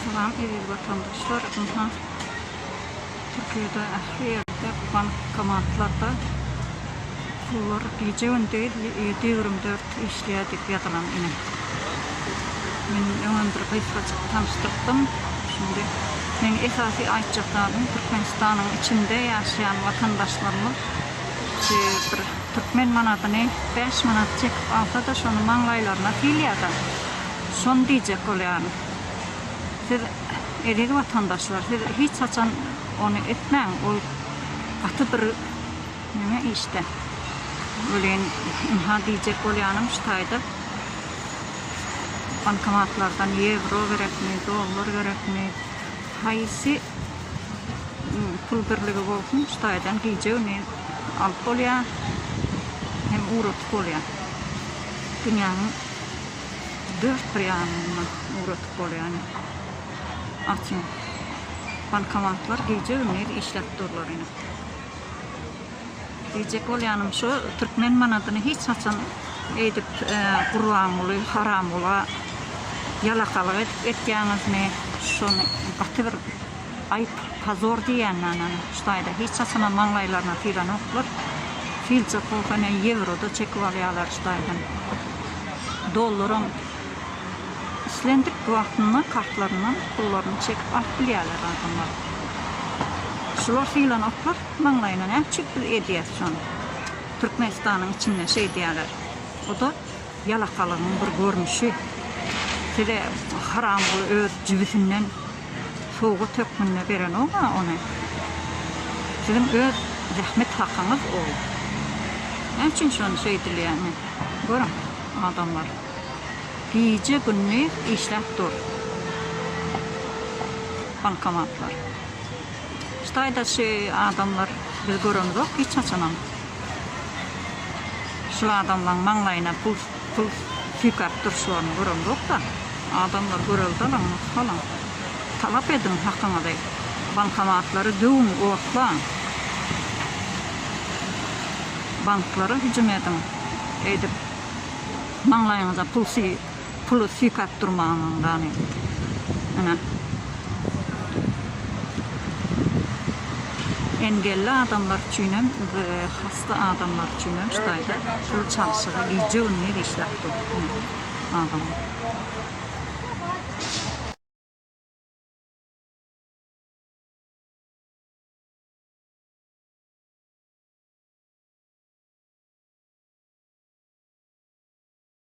Salam eziz watandaşlar ynha Türkiýede ähli ýerde bankomatlarda pullar gije gündiz ýedi ýügrüm dört işleýär diýip ýazylan ine men öňem bir gysgajyk tanyşdyrdym şindi meň esasy aýtjak zadym Türkmenistanyň içinde ýaşaýan watandaşlarymyz şu bir türkmen manadyny bäş manat çekip alsada şony maňlaýlaryna syýlaýada Şony diýjek bolýaryn. Siz, eziz watandaşlar, siz hiç haçan ony etmäň, ol gaty bir neme işde. Welin, ynha, diýjek bolýanym şu taýda, bankomatlardan ýewro gerekmi, dollar gerekmi, haýsy pul birligi bolsun, şu taýdan gije güni alyp bolýar hem ugradyp bolýar. Dünýäniň dört bir ýanyndan ugradyp bolýany açyň bankomatlar gije gündiz işläp durlar ine diýjek bolýanym şu türkmen manadyny hiç haçan eýdip gurbanguly haramgula ýalakalyk edip etýäňizmi şony gaty bir Aýp, pozor diýýän ýanan ştaýda hiç haçanam maňlaýlaryna sylanoklar. Filçe kohene ýewro-da çekip alýarlar ştaýdan. Dollaram islendik wagtynda kartlaryndan pullaryny çekip alyp bilýärler adamlar. Şular sylanoklar maňlaýyna näçük biz edýäs şony. Türkmenistanyň içinde şeýdýärler. O-da Ýalakalygyň bir görnüşi. Size Haramguly öz jübüsinden sowgat hökmünde berenok-a ony. Siziň öz zähmet hakyňyz ol. Näme üçin şony şeýdilýär? Ine, görüň, adamlar gije-gündiz işläp dur bankomatlar. Hytaýda şu adamlar biz göremzok hiç haçanam. Şul adamlaň maňlaýyna pul pul süýkäp durşlaryny göremzokda. Adamlar göreldalaň nusgalaň. Talap ediň hakyňyzy. Bankomatlary döwüň otlaň. Banklara hüjüm ediň. Eýdip maňlaýyňyza pul süý. Puly sypap durmaňyň gani. Ene. Engelli adamlar üçin hem we hasta adamlar üçin hem ştaýda pul çalşygy gije gündiz işläp dur. Ene. Adamlar.